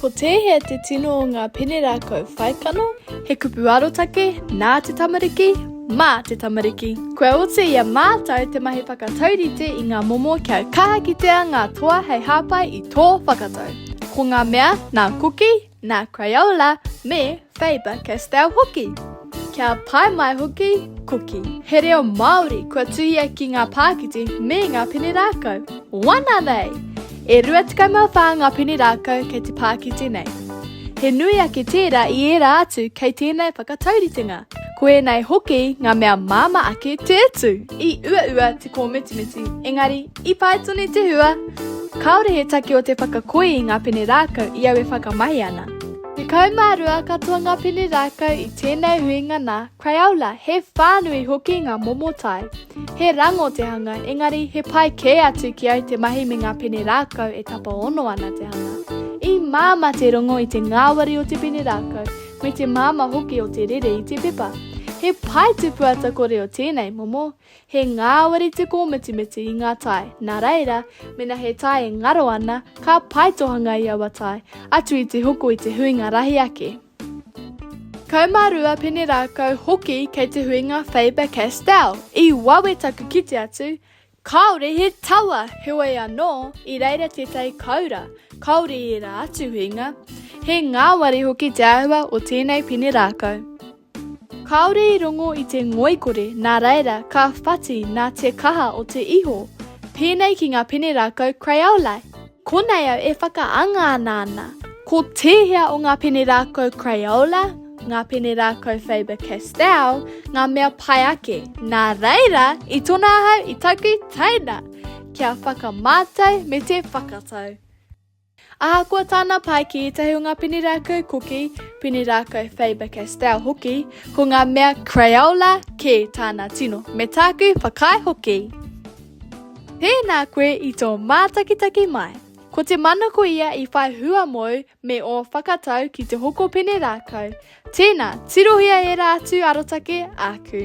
Ko tēhea te tino o ngā pene rākau whaikano? He kupu arotake nā te tamariki, mā te tamariki. Kua oti i a mātou te mahi whakataurite i ngā momo kia kaha kitea ngā toa hei hāpai i tō whakatau. Ko ngā mea nā Kuki, nā Crayola me Faber-Castell hoki. Kia pai mai hoki, koki. He reo Māori kua tuhia ki ngā pākiti me ngā pene rākau. Wana nei! E rua tekau mā whā ngā pene rākau kei te pākiti nei. He nui ake tērā i ērā atu kei tēnei whakatauritenga. Ko ēnei hoki ngā mea māmā ake te utu. I uaua te kōmitimiti, engari, i pai tonu te hua! Kāore he take o te whakakoi i ngā pene rākau i au e whakamahi ana. Tekau mā rua katoa ngā pene rākau i tēnei huinga nā Crayola, he whānui hoki ngā momo tae. He rango te hanga, engari he pai kē atu ki au te mahi me ngā pene rākau e tapaono ana te hanga. I māmā te rongo i te ngāwari o te pene rākau, me te māmā hoki o te rere i te pepa. He pae tupu ata kore o tēnei momo, He ngāwari te kōmitimiti i ngā tae, nā reira, mēnā he tae e ngaro ana, ka pae tohanga i aua tae, atu i te hoko i te huinga rahi ake. 12 pene rākau hoki kei te huinga Faber-Castell. I wawe taku kite atu, kāore he tawa, heoi anō, i reira tētahi koura, kāore i ērā atu huinga. He ngāwari hoki te āhua o tēnei pene rākau. Kāore i rongo i te ngoikore nā reira ka whati nā te kaha o te iho. Pēnei ki ngā pene rākau Crayola. Konei au e whakaanga ana ana. Ko tēhea o ngā pene rākau Crayola, ngā pene rākau Faber-Castell, ngā mea pai ake. Nā reira, i tona ahau i taku teina! Kia whakamātau me te whakatau. Ahakoa tāna pae ki ētahi o ngā pene rākau koki, pene rākau Faber-Castell hoki, ko ngā mea Crayola kē tāna tino, me tāku whakaae hoki. Tēnā koe i tō mātakitaki mai. Ko te manako ia i whai hua mōu me ō whakatau ki te hoko pene rākau. Tēnā, tirohia ērā atu arotake āku.